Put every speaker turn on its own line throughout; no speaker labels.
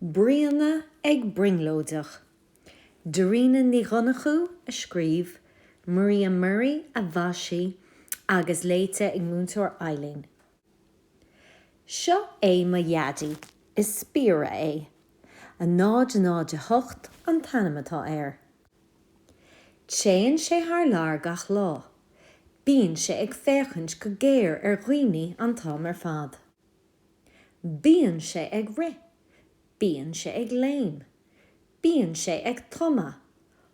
Bríona ag brionglóideach. Darina Ní Dhonnchú a scríobh, Maria Murray a mhaisigh agus léite ag Múinteoir Eileen. Seo é mo Dhaidí. Is spiaire é. 008 an t-ainm atá air. Téann sé thar lear gach lá. Bíonn sé ag féachaint go géar ar dhaoine an t-am ar fad. Bíonn sé ag rith. Bíonn sé ag léim. Bíonn sé ag tumadh.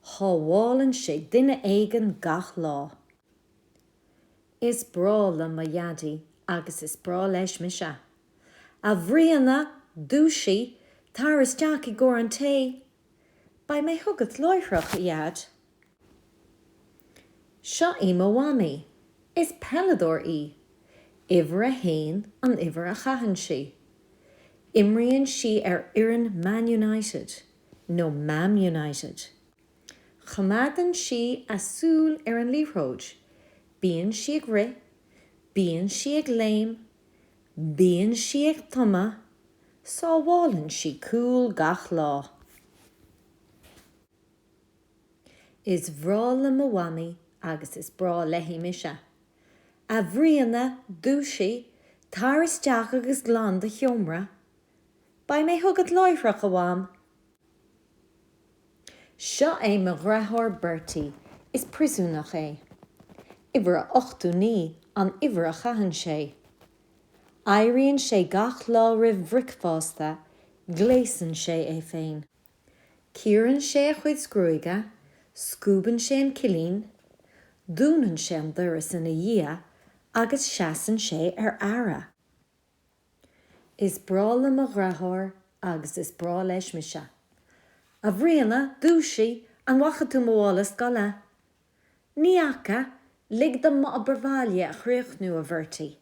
Sábhálann sé duine éigin gach lá. Is breá liom mo Dhaidí agus is breá leis mise. A Bhríona, dúisigh, tar isteach i gcomhair an tae! Beidh mé chugat láithreach, a Dheaid. Seo í mo mhamaí. Is peileadóir í. Uimhir a haon an uimhir a chaitheann sí. Imríonn sí ar fhoireann Man United, nó Mam United. Coimeádann sí a súil ar an liathróid. Bíonn sí ag rith. Bíonn sí ag léim. Bíonn sí ag tumadh, sábhálann sí cúl gach lá. Is breá liom mo mhamaí agus is breá léi mise. A Bhríona, dúisigh, tar isteach agus glan do sheomra. Beidh mé chugat láithreach, a Mham. Seo é mo dhreatháir Bertie, is priosúnach é. Uimhir a ochtó naoi an uimhir a chaitheann sé. Éiríonn sé gach lá roimh bhricfeásta, gléasann sé é féin. Cíorann sé a chuid gruaige, scuabann sé an cillín, dúnann sé an doras ina dhiaidh agus seasann sé ar aire. Is breá liom mo dhreatháir agus is breá leis mise. A Bhríona, dúisigh! An bhfaca tú mo mhála scoile? Ní fhaca, lig dom m'obair bhaile a chríochnú, a Bhertie.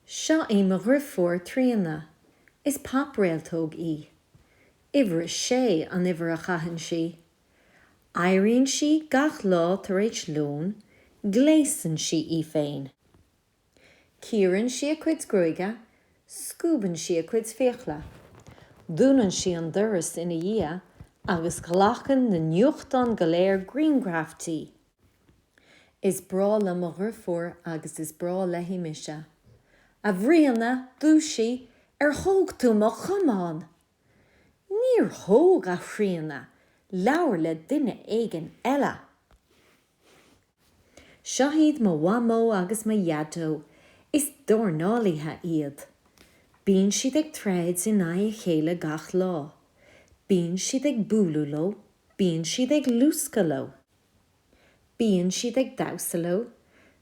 Seo í mo dhriofúr Tríona. Is pop-réaltóg í. Uimhir a sé an uimhir a chaitheann sí. Éiríonn sí gach lá tar éis lón, gléasann sí í féin. Cíorann sí a cuid gruaige, scuabann sí a cuid fiacla, dúnann sí an doras ina dhiaidh agus glacann na nuachtáin go léir grianghraif di. Is breá liom mo dhrifiúr agus is breá léi mise. A Bhríona, dúisigh, ar thóg tú mo chamán? Níor thóg, a Thríona, labhair le duine éigin eile. Seo iad mo mhamó agus mo dhaideo, is dornálaithe iad. Bíonn siad ag troid in aghaidh a chéile gach lá. Bíonn siad ag bualadh leo, bíonn siad ag luascadh leo. Bíonn siad ag damhsa leo,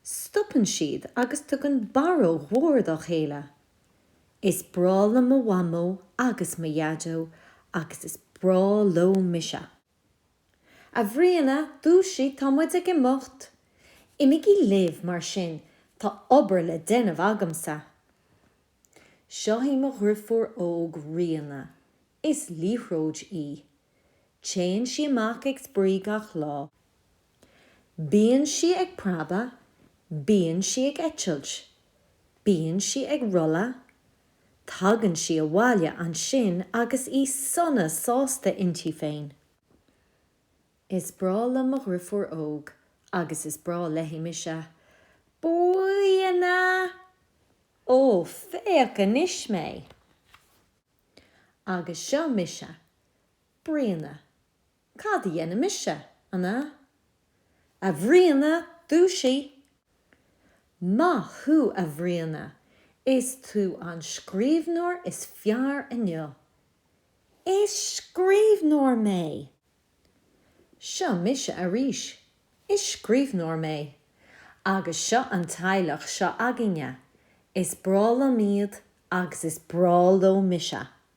stopann siad agus tugann barróg mhór dá chéile. Is breá liom mo mhamó agus mo dhaideo agus is breá leo mise. A Bhriana, dúisigh, tá muid ag imeacht. Imigí libh, mar sin, tá obair le déanamh agamsa. Seo í mo dhriofúr óg Ríona. Is liathróid í. Téann sí amach ag spraoi gach lá. Bíonn sí ag preabadh, bíonn sí ag eitilt, bíonn sí ag rolladh, Tagann sí abhaile ansin agus í sona sásta inti féin. Is breá liom mo dhriofúr óg agus is breá léi mise. A Bhriana! Ó, féach anois mé! Agus seo mise, Bríona. Cad a dhéanfaidh mise, an ea? A Bhriana, dúisigh! Maith thú a Bhriana, is tú an scríbhneoir is fearr inniu. Is scríbhneoir mé! Seo mise arís, is scríbhneoir mé. Agus seo an teaghlach seo againne, is breá liom iad agus is breá leo mise.